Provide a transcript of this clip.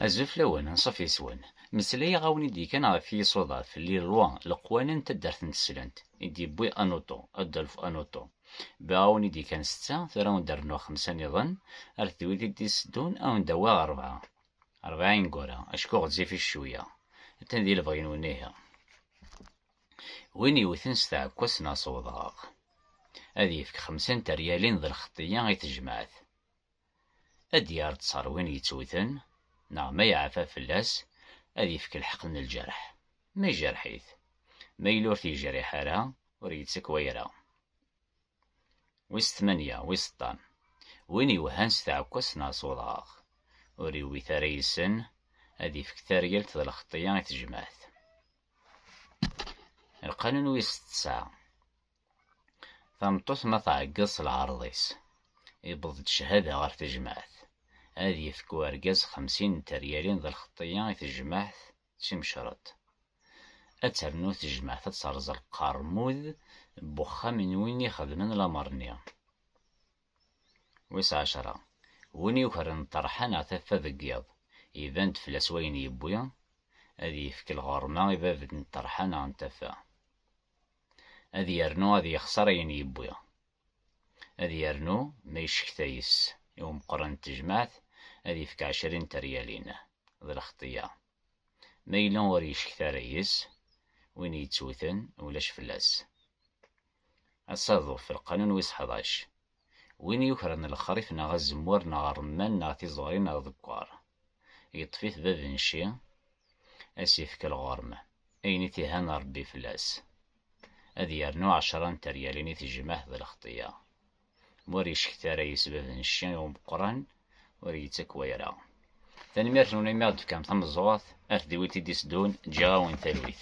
Azul fell-awen, anṣuf yes-wen. Meslayeɣ-awen i d-yekkan ɣef yisuḍaf, les lois, leqwanen n taddart n teslent, i d-yewwi Anuto, Adolphe Anuto. Bɣiɣ-awen i d-yekkan setta, tura awen-d rnuɣ xemsa niḍen, ar d wid i d-iteddun awen-d awiɣ rebɛa. Rebɛa ineggura, acku ɣezzifit cwiya. Atan di lebɣi-nwen ihi. Win yewten s tɛekkazt neɣ s wedɣaɣ, ad yefk xemsa n teryalin d lxeṭṭiyya i tejmaɛt. ad d-yerr ttar win yettewten, neɣ ma yeɛfa fell-as, ad ifk lḥeqq n lǧerḥ, ma ijerḥ-it, ma yella ur t-yejriḥ ara, ur yettak wayra. Wis tmanya, wis ṭam, win iwehhan s tɛekkwazt neɣ s uḍɣaɣ, ur iwwit ara yes-sen, ad ifk taryalt d lxeṭṭya i tejmaɛt. Lqanun wis ṭṭesɛa, Tameṭṭut ma tɛeggeḍ s lɛerḍ-is, iwweḍ-d cchada ɣer tejmaɛt, ad yefk urgaz xemsin n teryalin d lxeṭṭiyya i tejmaɛt d timecreḍt. Ad ternu tejmaɛt ad terẓ lqermud n wexxam n win ixedmen lamer-nni. Wis ɛecra, win yukren ṭṭerḥa neɣ taffa deg yiḍ, iban-d fell-as wayen yewwi, ad yefk lɣerma i bab n ṭṭerḥa neɣ n taffa. Ad yernu ad yexṣer ayen yewwi. Ad yernu ma yecekta yes i umeqqran n tejmaɛt ad yefk ɛecrin teryalin. D lexṭiya. Ma yella ur yecekta ara yes, win yettewten ulac fell-as. Asaḍuf, lqanun wis ḥdac. Win yukren lexrif neɣ azemmur neɣ rremman neɣ tiẓuri neɣ deggar. Yeṭṭef-it bab n cci, a s-ifk lɣerm, ayen i t-ihan Rebbi fell-as. Ad yernu ɛecra n teryalin i tejmaɛt d lexṭiya. Ma ur yecekta ara yis bab n cci i umeqqran, ur yettak wayra. Tanemmirt-nwen imi i aɣ-d-tefkam tameẓẓuɣt, a tdiwilt i d-iteddun, ǧǧiɣ-awen talwit.